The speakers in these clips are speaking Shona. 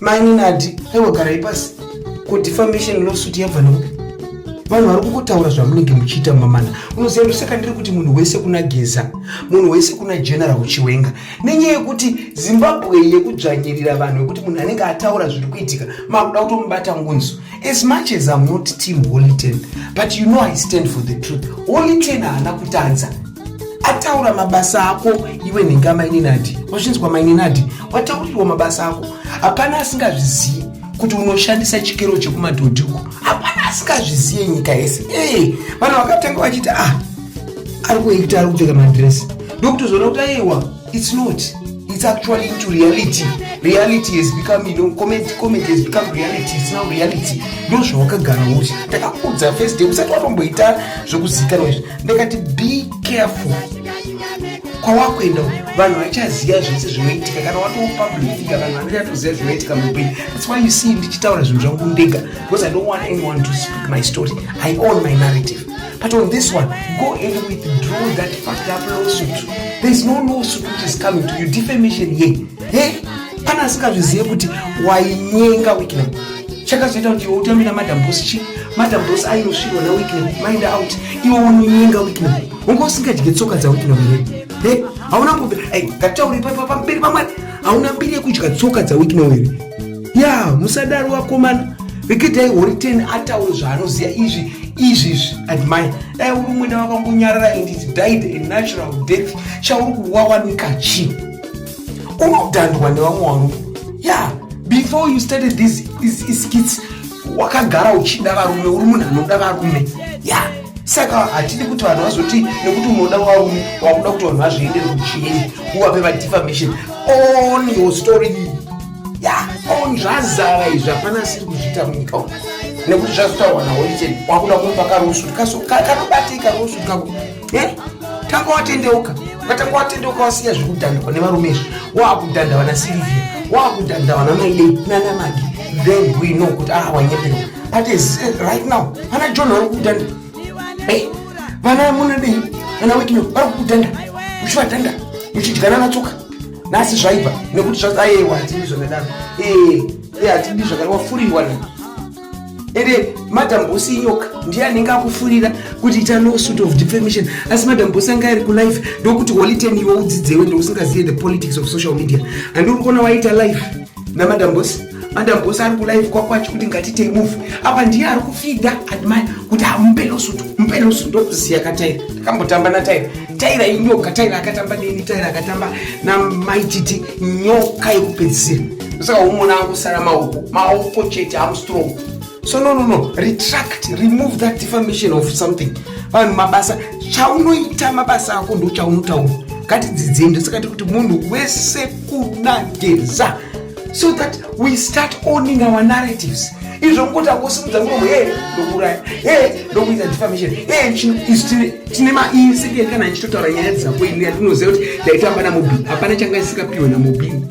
maininadi aiwa garai pasi ko defamation lawsuit yabva nokupi vanhu vari kungotaura zvamunenge muchiita mamana unoziva ndosaka ndiri kuti munhu wese kuna geza munhu wese kuna general chiwenga nenyaya yekuti zimbabwe yekudzvanyirira vanhu vekuti munhu anenge ataura zviri kuitika makuda kutomubata ngunzu as much as im not team holy ten but you know i stand for the truth holy ten haana kutadza ataura mabasa ako iwe nhinga maininadi wazvinzwa maininadi wataurirwa mabasa ako hapana asingazvizivi kuti unoshandisa chikero chekumadhodhi uko hapana asingazvizive nyika yese ee vanhu vakatanga vachiti ah ari kuita ari kupfeka madresi ndokutozoona kuti aiwa It's not. It's actually into reality. Reality has become, you know, comment, comment has become reality. It's now reality. Ndo zvawakagara uchi. Ndakakudza first day. Usati watomboita zvekuzikanwa izvi. Ndakati be careful. Kwawakuenda vanhu vachaziva zvese zvinoitika kana watoo public figure vanhu vanachatoziva zvinoitika mupenyu. That's why you see ndichitaura zvinhu zvangu ndega because I don't want anyone to speak my story. I own my narrative. But on this one, go and withdraw that fucked up lawsuit. There is no lawsuit which is coming to you. Defamation here. Hey? Kana asingazvizive kuti wainyenga Wyclef. Chakazoita kuti iwe utambe na Madam Boss chi. Madam Boss ainosvirwa na Wyclef. Mind out. Iwe unonyenga Wyclef. Unga usingadye tsoka dza Wyclef here? Hey? Hauna kumbe. Hey, ngataure pamberi pamwari. Hauna mbiri yekudya tsoka dza Wyclef here? ya musadaro wakomana rekidai horiteni ataure zvaanoziva izvi izvi izvi admire dai uri mwena vakangonyarara and it died a natural death chauri kuwawanika chii unodhandwa nevamwe varume ya before you started this is skits wakagara uchida varume uri munhu anoda varume ya yeah saka hatidi kuti vanhu vazoti nekuti unoda warume wakuda kuti vanhu vazviendere kuchieni uvape vadefamation on your story iyi ya on zvazara izvi hapana asiri kuzviita munyika umu nekuti zvazotaurwa nawo icheni wakuda kumupa karusu kanobatika rusu kako eh? tanga watendeuka ukatanga watendeuka wasiya zvekudhandikwa nevarume izvi waakudhanda vana silivia waakudhanda vana maidei nana magi then we know kuti ah wanyeperwa but right now vana john vari kudhanda hey, vana munodei vana wekino vari kukudhanda muchivadhanda muchidyana natsoka nasi zvaibva nekuti zvaaewa hatidi zvakadaro ee eh, hatidi zvakadaro wafurirwa na ende madam bosi inyoka ndiye anenge akufurira kuti ita no suit of defamation asi madam bosi anga ari kulife ndokuti holiten iwe udzidzewe ndousingazive the politics of social media andiuri kuona waita life namadam bosi Mandagosa ari kulive kwako achikuti ngatitei move apa ndiye ari kufida admire kuti hamupe losutu mupe losutu ndokuziya kataira ndakambotamba nataira taira inyoka taira akatamba neni taira akatamba namaititi nyoka yekupedzisira saka umona akusara maoko maoko chete am strong so no no no retract remove that defamation of something vanhu mabasa chaunoita mabasa ako ndochaunotaura ngatidzidzei ndosaka tiri kuti munhu wese kunageza so that we start owning our narratives izvo ngokuti akusimudza muromo e ndokuraya e ndokuita defamation e chino isu tine maisekeri kana ichitotaura nyaya dzako ini yatinoziva kuti ndaitamba namobini hapana changa isikapiwe namobini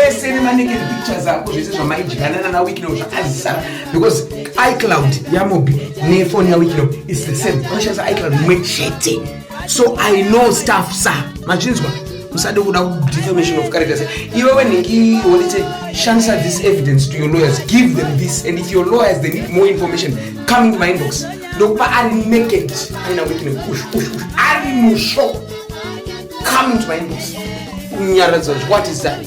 ese nemaneked pictures ako zvese zvamaidyana nana wikino zvakazisara because icloud yamobi nefoni yawikino is the same unoshandisa icloud imwe chete so i know staff sa machinzwa musade kuda defamation of characters iwewe nhingi wonite shandisa this evidence to your lawyers give them this and if your lawyers they need more information coming to my inbox ndokupa ari naked aina wikine kush kush kush ari musho coming to my inbox kunyaradzwa what is that